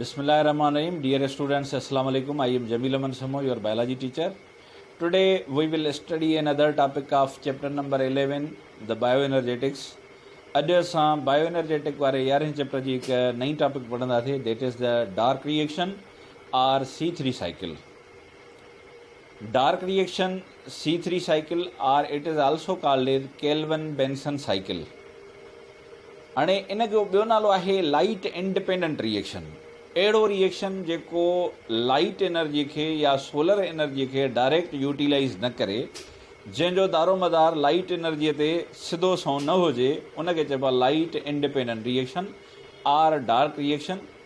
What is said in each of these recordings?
بسم الله الرحمن الرحيم ڊيئر اسٽوڊنٽس السلام عليڪم I am Jameel Aman Samo your biology teacher today we will study another topic of chapter number eleven the bioenergetics اڄ اسان بائيو انرجيٽڪ واري يارهين چيپٽر جي هڪ نئي ٽاپڪ پڙهنداسي that is the dark reaction or C three cycle dark reaction C three cycle or it is also called as Calvin Benson cycle اڻي ان جو ٻيو نالو آهي لائيٽ انڊپينڊنٽ ريئيڪشن اهڙو ريئيڪشن جيڪو لائيٽ انرجي کي يا سولر انرجي کي ڊائريڪٽ يوٽيلائيز نه ڪري جنهن جو دارومدار لائيٽ انرجي تي سڌو سنئون نه هجي ان کي چئبو آهي light independent reaction or dark reaction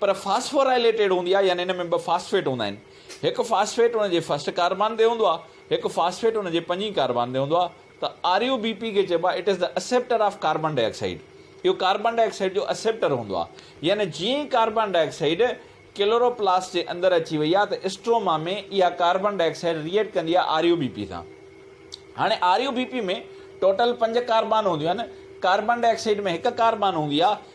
پر فاسفورائليٽيڊ هوندي آهي يعني ان ۾ ٻه فاسفيٽ هوندا آهن هڪ فاسفيٽ ان جي فرسٽ ڪاربان تي هوندو آهي هڪ فاسفيٽ ان جي پنجين ڪاربان تي هوندو آهي ته آريو بي پي کي چئبو آهي it is the acceptor of carbon dioxide اهو ڪاربان ڊاء آڪسائيڊ جو اسيپٽر هوندو آهي يعني جيئن ئي carbon dioxide chloroplast جي اندر اچي وئي آهي ته اسٽروما ۾ اها ڪاربان ڊاء آڪسائيڊ ريئيڪٽ ڪندي آهي آريو بي پي سان هاڻي آريو بي پي ۾ ٽوٽل پنج ڪاربان هونديون آهن ڪاربان ڊاء آڪسائيڊ ۾ هڪ ڪاربان هوندي آهي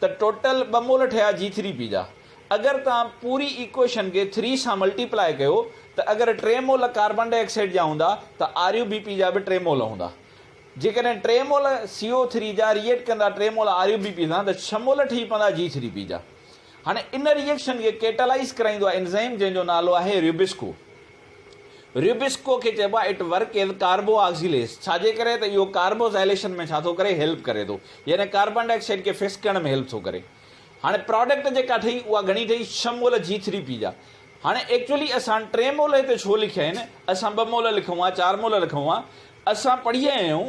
ته ٽوٽل ٻه مول ٺهيا جي ٿري پي جا. اگر توهان پوري ايڪوئيشن کي ٿري سان ملٽي پلائي ڪيو ته اگر ٽي مول ڪاربان ڊاء آڪسائيڊ جا هوندا ته آريو بي پي جا به ٽي مول هوندا. جيڪڏهن ٽي مول سي او ٿري جا ريئيڪٽ ڪندا ٽي مول آريو بي پي سان ته ڇهه مول ٺهي پوندا جي ٿري پي جا. هاڻي ان ريئيڪشن کي ڪيٽالائيز ڪرائيندو آهي انزائم جنهن جو نالو آهي ريوبسڪو. ريوبسڪو کي چئبو آهي it work as carboxylase ڇاجي ڪري ته اهو ڪاربوزائليشن ۾ ڇا ٿو ڪري هيلپ ڪري ٿو يعني ڪاربان ڊاء آڪسائيڊ کي فڪس ڪرڻ ۾ هيلپ ٿو ڪري هاڻي پراڊڪٽ جيڪا ٺهي اها گهڻي ٺهي ڇهه مول جي ٿري پي جا هاڻي ايڪچولي اسان ٽي مول هتي ڇو لکيا آهن اسان ٻه مول لکون ها چار مول لکون ها اسان پڙهي آيا آهيون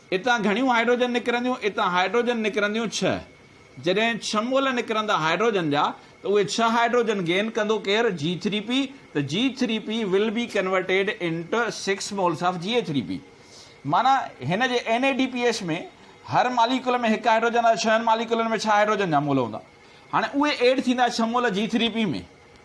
اتان گهڻيون هائڊروجن نڪرنديون، اتان هائڊروجن نڪرنديون ڇهه. جڏهن ڇهه مول نڪرندا هائڊروجن جا ته اهي ڇهه هائڊروجن گين ڪندو ڪير؟ جي ٿري پي ته جي three P will be converted into six moles of G A three P معنيٰ هن جي N A D P S ۾ هر ماليڪول ۾ هڪ هائڊروجن آهي ڇهن ماليڪولن ۾ ڇهه هائڊروجن جا مول هوندا هاڻي اهي ايڊ ٿيندا ڇهه mole G three P ۾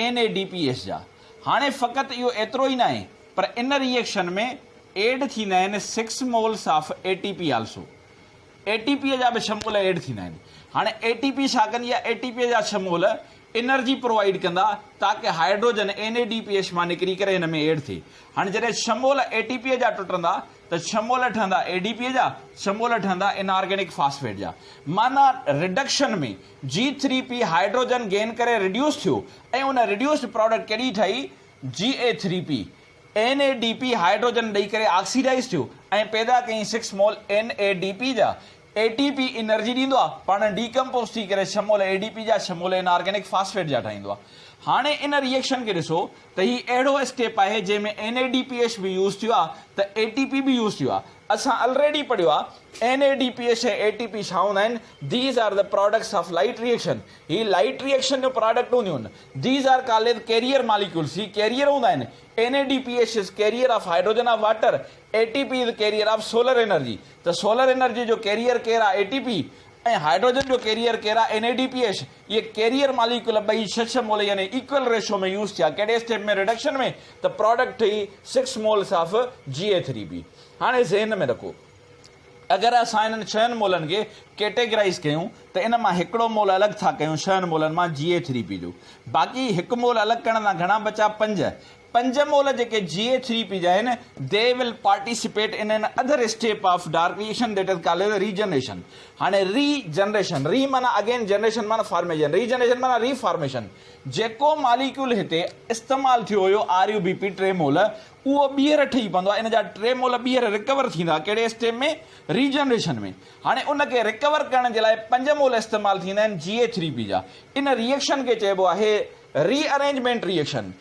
N A D P S جا هاڻي فقط اهو ايترو ئي ناهي پر ان ري ايڪشن ۾ ايڊ ٿيندا آهن six moles of A T P also A T P جا به ڇهه مول ايڊ ٿيندا آهن هاڻي اي ٽي پي ڇا ڪندي آهي اي ٽي پي جا ڇهه مول انرجي پرووائيڊ ڪندا تاڪه hydrogen N A D P S مان نڪري ڪري هن ۾ ايڊ ٿئي هاڻي جڏهن ڇهه مول اي ٽي پي جا ٽٽندا ته ڇهه مول ٺهندا اي ڊي پي جا ڇهه مول ٺهندا انارگينڪ فاسفيٽ جا معنيٰ reduction ۾ G three P hydrogen gain ڪري ريڊيوس ٿيو ۽ ان ريڊيوسڊ پراڊڪٽ ڪهڙي ٺهي G A three P N A D P hydrogen ڏئي ڪري آڪسيڊائيز ٿيو ۽ پيدا ڪيائين six mole N A D P جا اي ٽي پي انرجي ڏيندو آهي پاڻ ڊي ڪمپوز ٿي ڪري ڇهه مول اي ڊي پي جا ڇهه مول ان آرگينڪ فاسفيٽ جا ٺاهيندو آهي هاڻي ان ري ايڪشن کي ڏسو ته هي اهڙو اسٽيپ آهي جنهن ۾ N A D P H به يوز ٿيو آهي ته اي ٽي پي به يوز ٿيو آهي اسان الريڊي پڙهيو آهي N A D P S ۽ A T P ڇا هوندا آهن these are the products of light reaction هي لائيٽ ري ايڪشن جو پراڊڪٽ هونديون آهن these are called carrier molecules هي ڪيريئر هوندا آهن N A D P S is carrier of hydrogen of water A T P is carrier of solar energy ته solar energy جو carrier ڪير آهي اي ٽي پي ۽ هائيڊروجن جو carrier ڪير آهي N A D P S اهي carrier molecule ٻئي ڇهه ڇهه مول يعني ايڪول ريشو ۾ يوز ٿيا ڪهڙي اسٽيپ ۾ رڊڪشن ۾ ته پراڊڪٽ ٺهي six moles of G A three B هاڻي ذهن ۾ رکو اگر اسان انهن ڇهن مولن کي ڪيٽيگرائيز ڪيون ته ان مان هڪڙو مول الڳ ٿا ڪيون ڇهن مولن مان جي اي ٿري بي جو باقي هڪ مول الڳ ڪرڻ سان گهڻا بچا پنج پنج مول جيڪي جي اي ٿري پي جا آهن، they will participate in another step of darkation that is called regeneration. هاڻي ري جنريشن، ري معنيٰ اگين، جنريشن معنيٰ فارميشن، ري جنريشن معنيٰ ري فارميشن. جيڪو ماليڪيول هتي استعمال ٿيو هيو آر يو بي پي ٽي مول، اهو ٻيهر ٺهي پوندو آهي، ان جا ٽي مول ٻيهر ريڪور ٿيندا، ڪهڙي اسٽيپ ۾؟ Regeneration ۾. هاڻي ان کي ريڪور ڪرڻ جي لاء پنج مول استعمال ٿيندا آهن جي اي ٿري پي جا. ان ري ايڪشن کي چئبو آهي rearrangement reaction.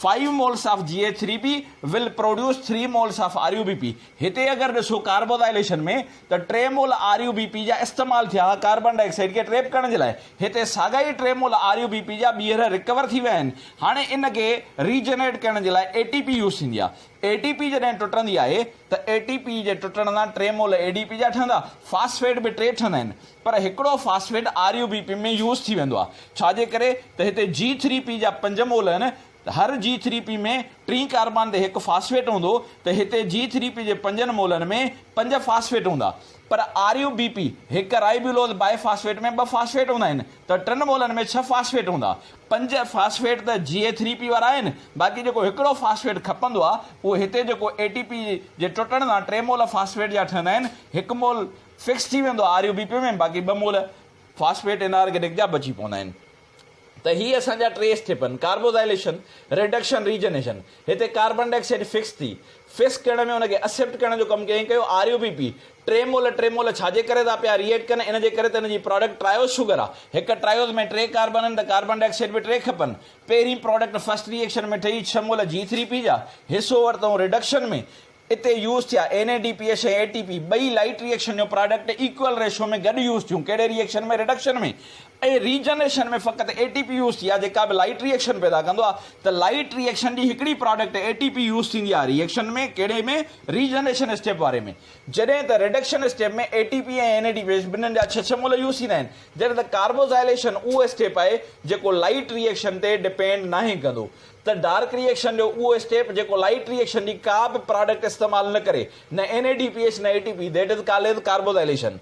Five moles of G A three P will produce three moles of R U B P هتي اگر ڏسو ڪاربوزائليشن ۾ ته ٽي mole R U B P جا استعمال ٿيا ها ڪاربان ڊاء آڪسائيڊ کي ٽريپ ڪرڻ جي لاء هتي ساڳا ئي ٽي mole R U B P جا ٻيهر ريڪور ٿي ويا آهن هاڻي ان کي ري جنريٽ ڪرڻ جي لاء اي ٽي پي يوز ٿيندي آهي اي ٽي پي جڏهن ٽٽندي آهي ته اي ٽي پي جي ٽٽڻ سان ٽي مول اي ڊي پي جا ٺهندا فاسفيٽ به ٽي ٺهندا آهن پر هڪڙو phosphate R U B P ۾ use ٿي ويندو آهي ڇا جي ڪري ته هتي جي ٿري پي جا پنج مول آهن ته هر جي ٿري پي ۾ ٽين ڪاربان تي هڪ فاسفيٽ هوندو ته هتي جي ٿري پي جي پنجن مولن ۾ پنج فاسفيٽ هوندا پر آر يو بي پي هڪ رائبيولوز بائي فاسفيٽ ۾ ٻه فاسفيٽ هوندا آهن ته ٽن مولن ۾ ڇهه فاسفيٽ هوندا پنج فاسفيٽ ته جي ٿري پي وارا آهن باقي جيڪو هڪڙو فاسفيٽ کپندو آهي اهو هتي جيڪو اي ٽي پي جي ٽٽڻ سان ٽي مول فاسفيٽ جا ٺهندا آهن هڪ مول فڪس ٿي ويندو آهي آر يو بي پي ۾ باقي ٻه مول فاسفيٽ ان آرگنڪ جا بچي پوندا آهن ته هي اسان جا ٽي اسٽيپن ڪاربوزائليشن ريڊڪشن ريجنيشن هتي ڪاربن ڊاء آڪسائيڊ فڪس ٿي فڪس ڪرڻ ۾ ان کي اسيپٽ ڪرڻ جو ڪم ڪيائين ڪيو آر يو بي پي ٽي مول ٽي مول ڇا جي ڪري ٿا پيا ري ايڪٽ ڪن ان جي ڪري ته ان جي پراڊڪٽ ٽرائيوز شوگر آ هڪ ٽرائيوز ۾ ٽي ڪاربن آهن ته ڪاربن ڊاء آڪسائيڊ به ٽي کپن پهرين پراڊڪٽ فسٽ ري ايڪشن ۾ ٺهي ڇهه مول جي ٿري پي جا حصو ورتئون ريڊڪشن ۾ اتي يوز ٿيا N A D P H ۽ A T P ٻئي لائٽ ري ايڪشن جو پراڊڪٽ ايڪوئل ريشو ۾ گڏ يوز ٿيون ڪهڙي reaction ۾ reduction ۾ ۽ regeneration ۾ فقط اي ٽي پي يوز ٿي آهي جيڪا به لائٽ ري ايڪشن پيدا ڪندو آهي ته لائٽ ري ايڪشن جي هڪڙي product A T P use ٿيندي آهي ري ايڪشن ۾ ڪهڙي ۾ ري جنريشن اسٽيپ واري ۾ جڏهن ته reduction step ۾ A T P ۽ N A D P H ٻنهن جا ڇهه ڇهه مول يوز ٿيندا آهن جڏهن ته ڪاربوزائليشن اهو اسٽيپ آهي جيڪو لائٽ ري ايڪشن تي ڊپينڊ ناهي ڪندو ته ڊارڪ ري ايڪشن جو اهو اسٽيپ جيڪو لائيٽ ري ايڪشن جي ڪا به پراڊڪٽ استعمال نه ڪري، نه N A D P H نه A T P that is called carboxylation.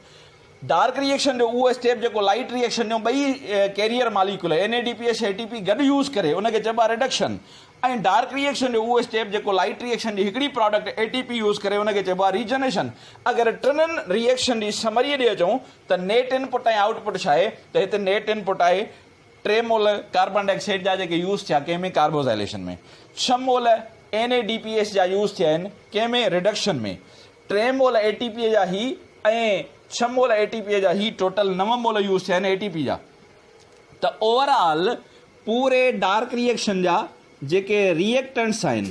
Dark reaction جو اهو اسٽيپ جيڪو لائيٽ ري ايڪشن جون ٻئي carrier molecule N A D P H A T P گڏ يوز ڪري ان کي چئبو آهي ريڊڪشن ۽ ڊارڪ ري ايڪشن جو اهو اسٽيپ جيڪو لائيٽ ري ايڪشن جي هڪڙي product A T P use ڪري ان کي چئبو آهي ري جنريشن. اگر ٽنن ري ايڪشن جي سمري ڏي اچون ته نيٽ ان پٽ ۽ آئوٽ پٽ ڇا آهي ته هتي نيٽ ان پٽ آهي ٽي مول ڪاربان ڊاء آڪسائيڊ جا جيڪي يوز ٿيا ڪنهن ۾ ڪاربوزائليشن ۾ ڇهه mole N A D P S جا يوز ٿيا آهن ڪنهن ۾ رڊڪشن ۾ ٽي مول اي ٽي پي جا هي ۽ ڇهه مول اي ٽي پي جا هي ٽوٽل نو مول يوز ٿيا آهن اي ٽي پي جا ته اوور آل پوري ڊارڪ ريئيڪشن جا جيڪي ريئيڪٽنٽس آهن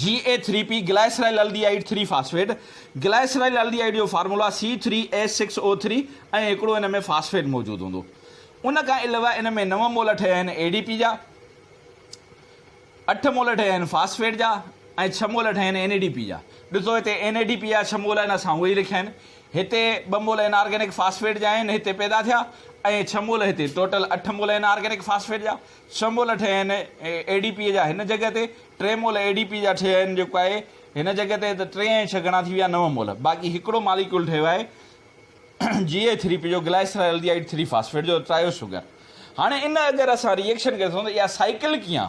G A three P glyceraldehyde three phosphate, glyceraldehyde جو formula C three H six O three ۽ هڪڙو ان ۾ فاسفيٽ موجود هوندو. ان کان علاوه ان ۾ نو مول ٺهيا آهن اي ڊي پي جا، اٺ مول ٺهيا آهن فاسفيٽ جا ۽ ڇهه مول ٺهيا آهن اين اي ڊي پي جا. ڏسو هتي اين اي ڊي پي جا ڇهه مول آهن اسان اهي ئي لکيا آهن. هتي ٻه مول ان آرگينڪ فاسفيٽ جا آهن هتي پيدا ٿيا ۽ ڇهه مول هتي ٽوٽل اٺ مول ان آرگينڪ فاسفيٽ جا ڇهه مول ٺهيا آهن اي ڊي پي جا هن جڳهه تي، ٽي مول اي ڊي پي جا ٺهيا آهن جيڪو آهي هن جڳهه تي ته ٽي ۽ ڇهه گهڻا ٿي ويا نو مول، باقي هڪڙو ماليڪيول ٺهيو آهي جي اي ٿري پي جو گلائيسرالڊيهائيڊ ٿري فاسفيٽ جو ٽرايو شگر. هاڻي ان اگر اسان ري ايڪشن کي ڏسون ته اها سائيڪل ڪيئن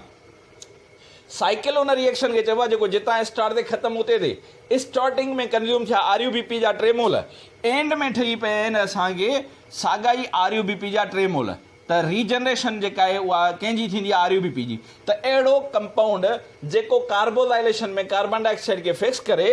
سائيڪل ان ري ايڪشن کي چئبو آهي جيڪو جتان اسٽارٽ ٿئي ختم اتي ٿئي اسٽارٽنگ ۾ ڪنزيوم ٿيا آر يو بي پي جا ٽي مول اينڊ ۾ ٺهي پيا آهن اسان کي ساڳا ئي آر يو بي پي جا ٽي مول. ته ري جنريشن جيڪا آهي اها ڪنهن جي ٿيندي آر يو بي پي جي ته اهڙو ڪمپائونڊ جيڪو ڪاربوزائليشن ۾ ڪاربان ڊاء آڪسائيڊ کي فڪس ڪري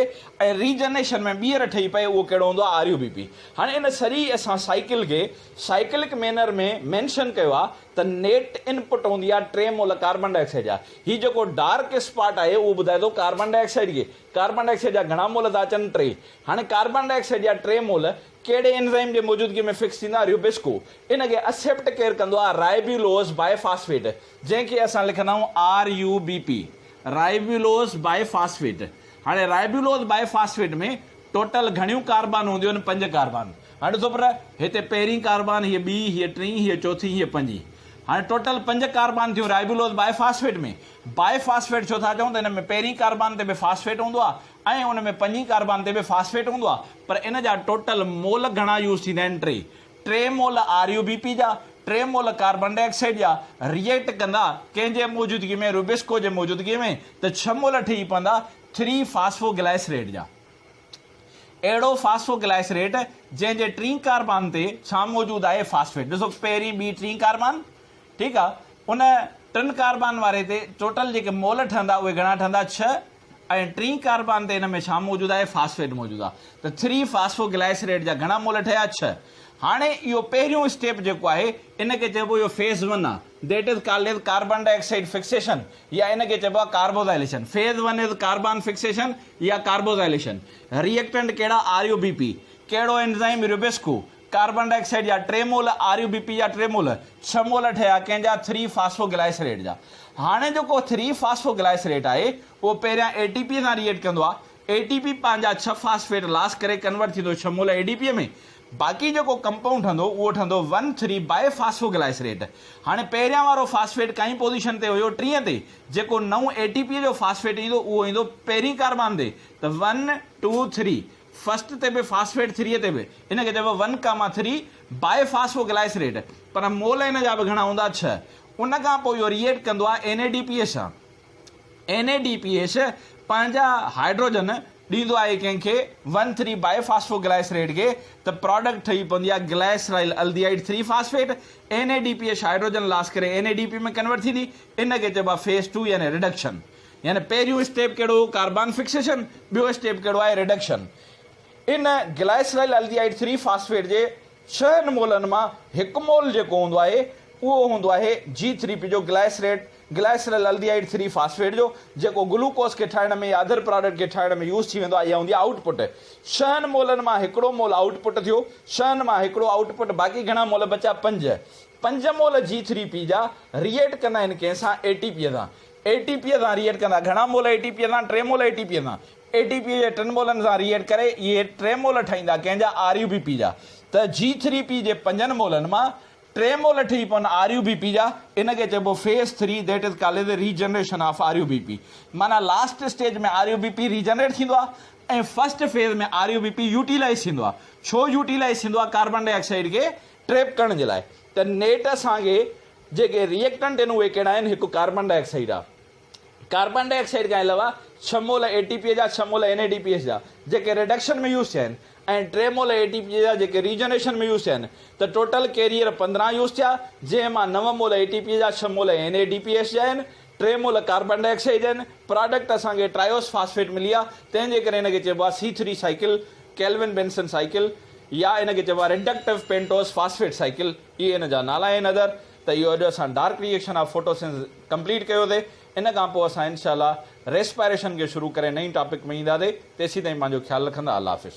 ۽ ري جنريشن ۾ ٻيهر ٺهي پئي اهو ڪهڙو هوندو آهي آر يو بي پي هاڻي ان سري اسان سائيڪل کي سائيڪلڪ مينر ۾ مينشن ڪيو آهي ته نيٽ ان پٽ هوندي آهي ٽي مول ڪاربان ڊاء آڪسائيڊ جا هي جيڪو ڊارڪ اسپاٽ آهي اهو ٻڌائي ٿو ڪاربان ڊاء آڪسائيڊ کي ڪاربان ڊاء آڪسائيڊ جا گهڻا مول ٿا اچن ٽي هاڻي ڪاربان ڊاء آڪسائيڊ جا ٽي مول ڪهڙي انزائم جي موجودگي ۾ فڪس ٿيندا آهن ريوبيسڪو ان کي اسيپٽ ڪير ڪندو آهي رائبيولوز بائي فاسفيٽ جنهن کي اسان لکندا آهيون R U B P ribulose by phosphate هاڻي رائبيولوز بائي فاسفيٽ ۾ ٽوٽل گهڻيون ڪاربان هونديون آهن پنج ڪاربان هاڻي ڏسو پر هتي پهرين ڪاربان هيء ٻي هيء ٽين هيء چوٿين هيء پنجين هاڻي ٽوٽل پنج ڪاربان ٿيون ribulose bi phosphate ۾ bi phosphate ڇو ٿا چئون ته ان ۾ پهرين ڪاربان تي به فاسفيٽ هوندو آهي ۽ ان ۾ پنجين ڪاربان تي به فاسفيٽ هوندو آهي پر ان جا ٽوٽل مول گهڻا يوز ٿيندا آهن ٽي ٽي mole R U B P جا ٽي مول ڪاربان ڊاء آڪسائيڊ جا ريئيڪٽ ڪندا ڪنهن جي موجودگي ۾ روبيسڪو جي موجودگي ۾ ته ڇهه مول ٺهي پوندا ٿري فاسفو گلائسريٽ جا اهڙو فاسفو گلائسريٽ جنهن جي ٽين ڪاربان تي ڇا موجود آهي فاسفيٽ ڏسو پهرين ٻي ٽين ڪاربان ٺيڪ آهي ان ٽن ڪاربان واري تي ٽوٽل جيڪي مول ٺهندا اهي گهڻا ٺهندا ڇهه ۽ ٽين ڪاربان تي ان ۾ ڇا موجود آهي فاسفيٽ موجود آهي ته ٿري فاسفو گلائيسريٽ جا گهڻا مول ٺهيا ڇهه هاڻي اهو پهريون اسٽيپ جيڪو آهي ان کي چئبو اهو فيز ون آهي that is called as carbon dioxide fixation يا ان کي چئبو آهي carboxylation phase one is carbon fixation يا ڪاربوزائليشن ريئڪٽنٽ ڪهڙا آر يو بي پي ڪهڙو enzyme RuBisCO carbon dioxide جا ٽي mole R U B P جا ٽي مول ڇهه مول ٺهيا ڪنهن جا ٿري فاسفو گلائيسريٽ جا هاڻي جيڪو ٿري فاسفو گلائيسريٽ آهي اهو پهريان اي ٽي پي سان ري ايٽ ڪندو آهي اي ٽي پي پنهنجا ڇهه فاسفيٽ لاس ڪري ڪنورٽ ٿيندو ڇهه مول اي ڊي پي ۾ باقي جيڪو ڪمپائونڊ ٺهندو اهو ٺهندو ون ٿري باء فاسفو گلائيسريٽ هاڻي پهريان وارو فاسفيٽ ڪائين پوزيشن تي هيو ٽينء تي جيڪو نئون اي ٽي پي جو فاسفيٽ ايندو اهو ايندو پهرين ڪاربان تي ته ون ٽو ٿري فسٽ تي به فاسفيٽ ٿري تي به ان کي چئبو ون ڪاما ٿري باء فاسفو گلائسريٽ پر مول ان جا به گهڻا هوندا ڇهه ان کان پوء اهو ريئيڪٽ ڪندو آهي N A D P H سان N A D P H پنهنجا هائيڊروجن ڏيندو آهي ڪنهن کي ون ٿري باء فاسفو گلائسريٽ کي ته پراڊڪٽ ٺهي پوندي آهي glyceraldehyde three phosphate N A D P H hydrogen loss ڪري N A D P ۾ convert ٿيندي ان کي چئبو آهي فيز ٽو يعني رڊڪشن يعني پهريون اسٽيپ ڪهڙو هو ڪاربان فڪسيشن ٻيو اسٽيپ ڪهڙو آهي ريڊڪشن ان گلائيسرائل الڊيهائيڊ ٿري فاسفيٽ جي ڇهن مولن مان هڪ مول جيڪو هوندو آهي اهو هوندو آهي جي ٿري پي جو glycerate glyceraldehyde three phosphate جو جيڪو گلوڪوز کي ٺاهڻ ۾ يا اڌر پراڊڪٽ کي ٺاهڻ ۾ يوز ٿي ويندو آهي اها هوندي آهي آئوٽ پٽ ڇهن مولن مان هڪڙو مول آئوٽ پٽ ٿيو ڇهن مان هڪڙو آئوٽ پٽ باقي گهڻا مول بچيا پنج پنج مول جي ٿري پي جا ريئيٽ ڪندا آهن ڪنهن سان اي ٽي پي سان اي ٽي پيء سان ري ايڊ ڪندا. گهڻا مول اي ٽي پيء سان ٽي مول اي ٽي پيء سان. اي ٽي پيء جي ٽن مولن سان ري ايڊ ڪري اهي ٽي مول ٺهيندا ڪنهن جا آر يو بي پي جا ته جي ٿري پي جي پنجن مولن مان ٽي مول ٺهي پون آر يو بي پي جا ان کي چئبو phase three that is called a regeneration of R U B P معنيٰ last stage ۾ R U B P regenerate ٿيندو آهي ۽ first phase ۾ R U B P utilise ٿيندو آهي ڇو يوٽيلائيز ٿيندو آهي ڪاربان ڊاء آڪسائيڊ کي trap ڪرڻ جي لاء ته نيٽ اسان کي جيڪي ري ايڪٽنٽ آهن اهي ڪهڙا آهن، هڪ ڪاربان ڊاء آڪسائيڊ آهي. ڪاربان ڊاء آڪسائيڊ کان علاوه ڇهه مول اي ٽي پي جا، ڇهه mole N A D P S جا جيڪي ريڊڪشن ۾ يوز ٿيا آهن ۽ ٽي مول اي ٽي پي جا جيڪي ريجنريشن ۾ يوز ٿيا آهن ته ٽوٽل ڪيريئر پندرهن يوز ٿيا جنهن مان نو مول اي ٽي پي جا، ڇهه mole N A D P S جا آهن، ٽي مول ڪاربان ڊاء آڪسائيڊ جا آهن. پراڊڪٽ اسان کي ٽرائوس فاسفيٽ ملي آهي تنهن جي ڪري ان کي چئبو آهي C three cycle, Calvin Benson cycle يا ان کي چئبو آهي ريڊڪٽو پينٽوز فاسفيٽ سائيڪل. اهي ان جا نالا آهن ادر ته اهو اڄ اسان dark reaction of photosynthesis complete ڪيو ٿي ان کان پوء اسان انشاء الله ريسپائريشن کي شروع ڪري نئين ٽاپڪ ۾ اينداسي تيسين تائين پنهنجو خيال رکندا الله حافظ.